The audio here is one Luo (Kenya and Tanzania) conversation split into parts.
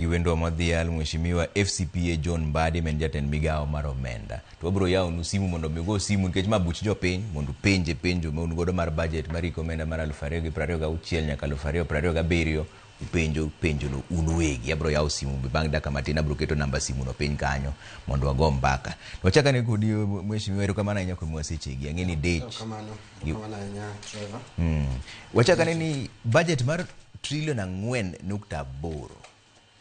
gi wendwa modhial mheshimiwa FCPA John Mbadi men jatend migawo mar omenda. To wabiro yawonu simu mondo mi ugo simu nikech ma buch jopiny mondo penje penjo ma un godo mar budget mar iko omenda mar 2026 nyaka 2027 upenjo penjono un uwegi. Abiro yawo simu bang' dakika matin abiro keto namba simuno piny kanyo mondo wago mbaka. To wachak ane kodi mheshimiwa erokamano ahinya kuom wasechegi. Ang'e ni dech. Erokamano. Erokamano ahinya Trevor. Mm. Wachak ane ni budget mar Trillion ang'wen nukta aboro.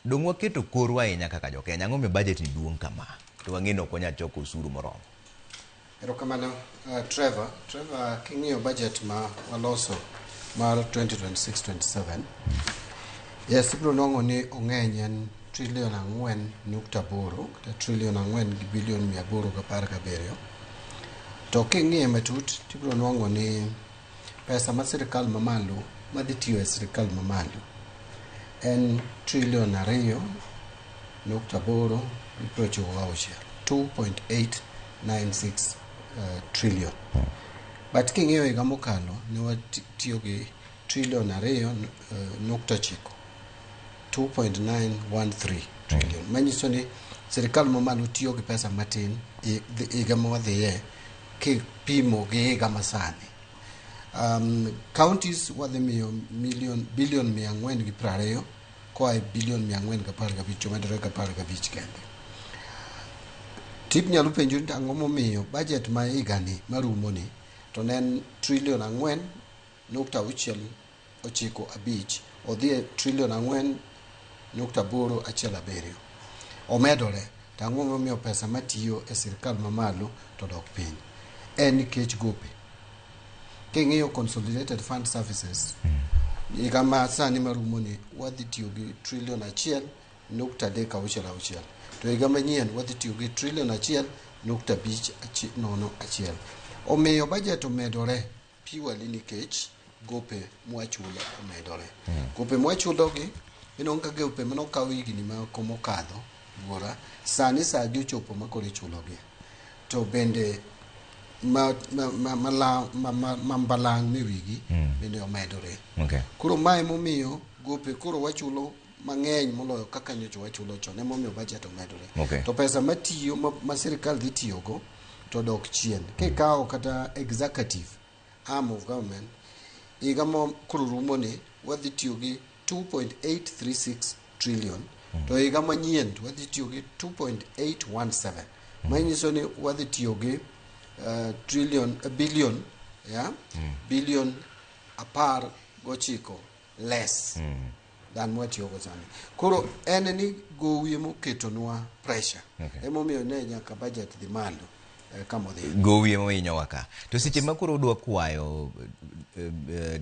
Donge waketo korwa ahinya kaka jo Kenya? Ang'o momiyo budget ni duong' kama? To wang'eyo ni ok wanyal choko osuru moromo. Erokamano uh, Trevor. Trevor, king'iyo budget ma waloso mar 2026-27 yes ibiro nwang'o ni ong'eny en trilion ang'wen nukta aboro kata trilion ang'wen gi bilion mia aboro gapar gabiriyo to king'iye matut tibiro nwang'o ni Pesa ma sirkal mamalo madhi tiyo e sirkal mamalo en trilion ariyo nukta aboro gi piero ochiko gauchiel 2.896 uh, trillion but king'iyo higa mokalo ne watiyo gi trilion ariyo uh, nukta ochiko 2.913 trillion manyiso ni sirkal mamalo tiyo gi pesa matin higa ma wadhiye kipimo gi higa masani. Um, counties wadhi miyo million, billion mia ang'wen gi prariyo koa e billion mia ang'wen gapar gabich omedore gapar gabich kende. Tip nyalo penjo ni ang'o momiyo budget ma higani marumoni to ne en trillion ang'wen nukta auchiel ochiko abich odhi e trilion ang'wen nukta aboro achiel abiriyo omedore to ang'o momiyo pesa matiyo e sirkal mamalo to dok piny en nikech gope king'iyo consolidated fund services higa ma sani marumoni wadhi tiyo gi trilion achiel nukta adek auchiel auchiel to higa manyien wadhi tiyo gi trilion achiel nukta abich achi- nono achiel omiyo bajet omedore purely nikech gope mwachulo omedore. Gope mwachulogi ineno ka gope mane okaw higni moko mokadho buora, sani saa gi ochopo ma koro ichulogi. To bende ma- ma- ma- mala- ma- ma- ma mbalang' mewigi bende omedore. Okay. Koro ma emomiyo gope koro wachulo mang'eny moloyo kaka nyocha wachulo chon emomiyo bajet omedore okay. to pesa matiyo ma, ma sirikal dhi tiyogo to dok chien kikawo kata executive arm of government higa ma koro rumoni wadhi tiyo gi 2.836 trillion mm. to higa manyien to wadhi tiyo gi 2.817 mm. manyiso ni wadhi tiyo gi uh, trillion uh, billion yeah? mm. billion apar gochiko less mm. than mwatiyogo sani koro en ni gowi emoketonwa pressure okay. emomiyo ne nyaka budget dhi malo eh, kamodhi gowi emohinyowa ka to seche ma koro udwa kwayo uh, uh,